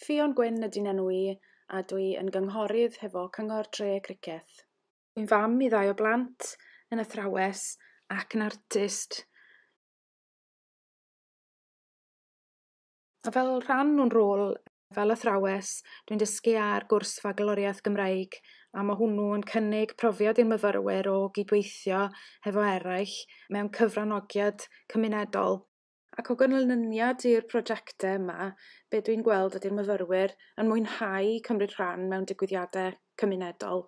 Ffion Gwyn ydyn enw i a dwi yn gynghorydd hefo Cyngor Tre Criceth. Yn fam i ddau o blant, yn athrawes ac yn artist. A fel rhan o'n rôl fel athrawes, dwi'n dysgu ar gwrs Fagloriaeth Gymraeg a mae hwnnw yn cynnig profiad i'r myfyrwyr o gydweithio hefo eraill mewn cyfranogiad cymunedol. Ac o ganlyniad i'r prosiectau yma, be dwi'n gweld ydy'r myfyrwyr yn mwynhau cymryd rhan mewn digwyddiadau cymunedol,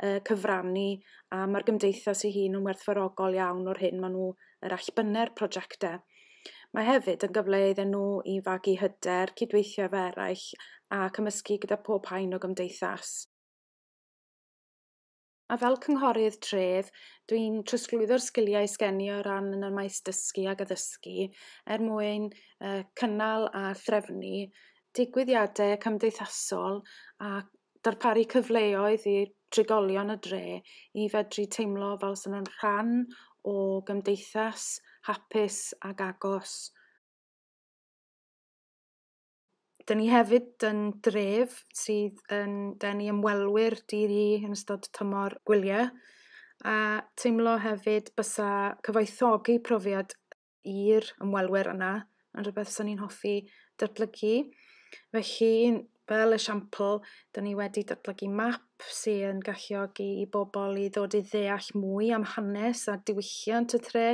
uh, cyfrannu, a mae'r gymdeithas ei hun yn werthfarogol iawn o'r hyn maen nhw yr allbynne'r prosiectau. Mae hefyd yn gyfle iddyn nhw i fagu hyder, cydweithio efo eraill a cymysgu gyda pob haen o gymdeithas. A fel cynghorydd tref, dwi'n trosglwyddo'r sgiliau sgen i o ran yn y maes dysgu ac addysgu er mwyn uh, cynnal a threfnu digwyddiadau cymdeithasol a darparu cyfleoedd i trigolion y dre i fedru teimlo fel sy'n nhw'n rhan o gymdeithas hapus ac agos. Dyn ni hefyd yn dref sydd yn denu ymwelwyr dydd i yn ystod tymor gwyliau a teimlo hefyd bysa cyfoethogi profiad i'r ymwelwyr yna yn rhywbeth sy'n ni'n hoffi datblygu. Felly, fel esiampl, dyn ni wedi datblygu map sy'n galluogi i bobl i ddod i ddeall mwy am hanes a diwylliant y tre.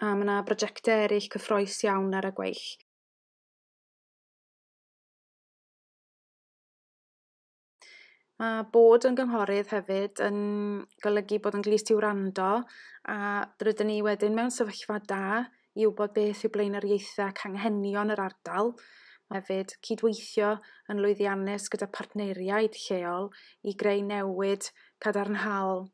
A mae yna brojectau eraill cyffroes iawn ar y gweill. Mae bod yn gynghorydd hefyd yn golygu bod yn glust i wrando a rydyn ni wedyn mewn sefyllfa da i wybod beth yw blaenoriaethau ac anghenion yr ardal. Mae hefyd cydweithio yn lwyddiannus gyda partneriaid lleol i greu newid cadarnhaol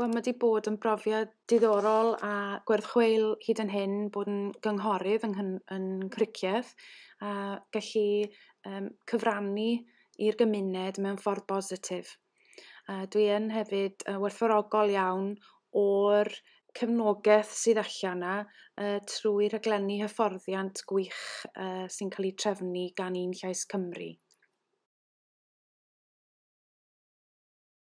Wel mae 'di bod yn brofiad diddorol a gwerth chweil hyd yn hyn bod yn gynghorydd yng nghyn- yn Cricieth a gallu yrm cyfrannu i'r gymuned mewn ffordd bositif. A dwi yn hefyd yrr werthfawrogol iawn o'r cefnogeth sydd allan 'na yrr trwy rhaglenni hyfforddiant gwych yrr sy'n cael 'u trefnu gan un Llais Cymru.